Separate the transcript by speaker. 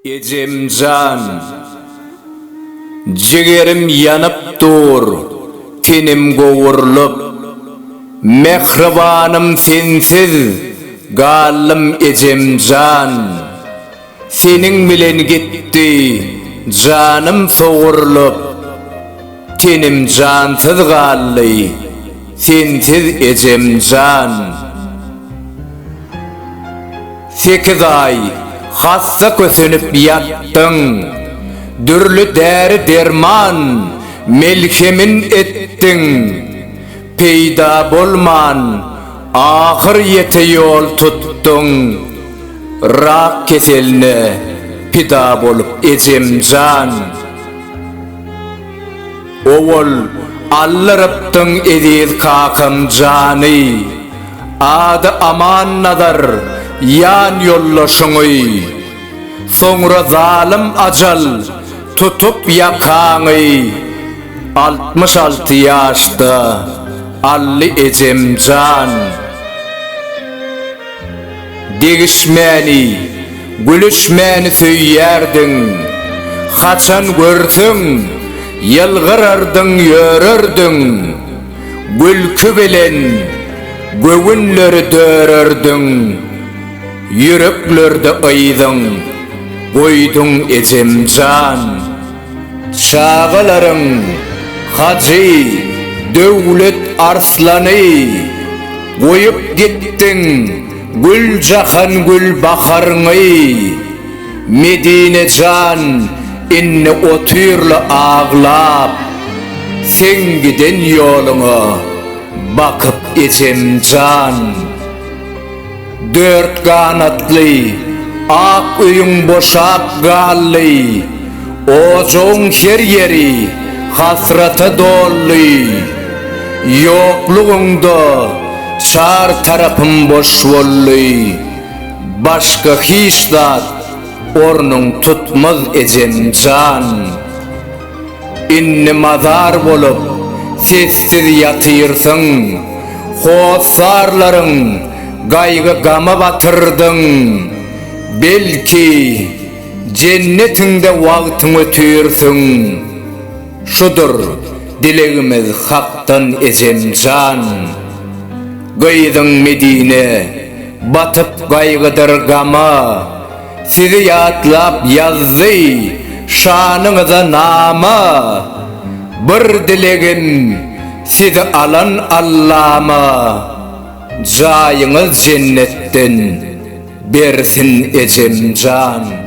Speaker 1: Ejem jan! Jigerim ýanyp dur, tenim gowurlyp. Mähribanym sensiz galdym ejem jan! Seniň bilen gitdi janym sogurlyp, Tenim jansyz galdy, sensiz ejem jan. Sekiz aý hassa kösenip ýatdyň, Dürli däri-derman, melhemin etdiň, Peýda bolman Ahyr ýete ýol tutdum rak keseline pida bolup ejemjan. Owal aldyrypdyň eziz kakam jany, ady Amannazar ýan ýoldaşyňy. Soňra zalym ajal tutup ýakaňy altmyş alty ýaşda. Ally ejem jan! Degişmäni, gülüşmäni söýýärdiň. Haçan görseň, ýylgyrardyň, ýörerdiň. Gülki bilen göwünleri dörerdiň. Ýüreklerde yzyň goýduň ejem jan! Çagalaryň Hajy Döwlet Arslany Goýup gitdiň Güljahan Gülbaharyňy Medine jan indi otyrla aglap Seň giden ýoluňa bakyp ejem jan. Dört ganatly ak öýüň boşap galdy, Ojagyň her ýeri hasrata doldy. Ýoklugyňda çar tarapym boş boldy, Başga hiç zat ornuň tutmaz ejeň jan. Indi mazar bolup, sessiz ýatyrsyň, Hossarlaryň gaýgy-gama batyrdyň. Belki, jennetiňde wagtyň ötürsiň. Şudur dilegimiz Hakdan ejem jan. Gyzyň Medine batyp gaýgydyr gama. Sizi ýatlap ýazdy şanyňyza nama, Bir dilegim sizi alan Allama, Jaýyňyz jennetden bersin ejemjan.